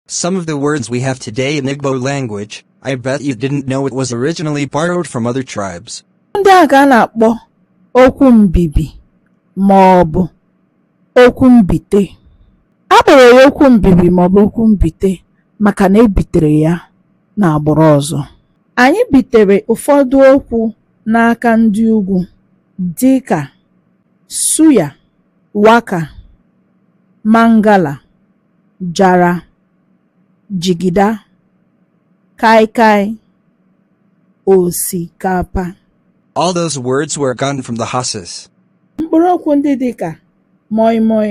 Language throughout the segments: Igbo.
Some of the words we have today in Igbo language, I bet you didn't know it was originally borrowed from other tribes. Ndị a ka a na-akpọ okwu mbibi ma ọ bụ okwu mbite. A kpọrọ ya okwu mbibi ma ọ bụ okwu mbite maka na e bitere ya n'agbụrụ ọzọ. Anyị bitere ụfọdụ okwu n'aka ndị ugwu dị ka suya, waka, mangala. jara jigida kaikai osikapa All those words were gotten from the Hausas. Mkpụrụ okwu ndị dị ka moi moi,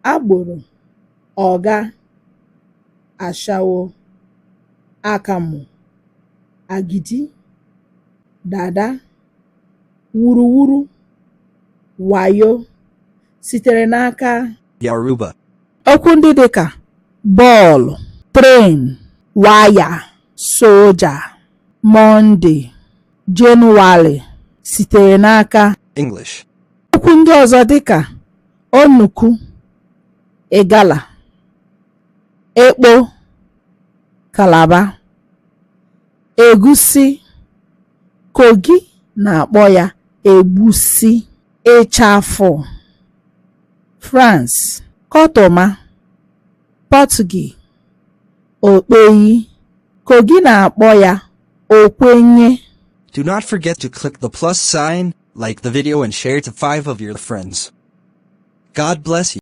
agboro, ọga, ashawo, akamụ, agidi, dada, wuruwuru, wayo, sitere n'aka Yoruba okwu ndị dị ka bọọlụ tren waya soja mọnde jenụwarị sitere n'aka English okwu ndị ọzọ dị ka onuku Igala ekpo Kalaba egusi Kogi na-akpọ ya egbusi ịchafụ France kọtụma Pọtụgi okpeyi kogi na-akpọ ya okwenye Do not forget to click the plus sign, like the video and share to five of your friends. God bless you.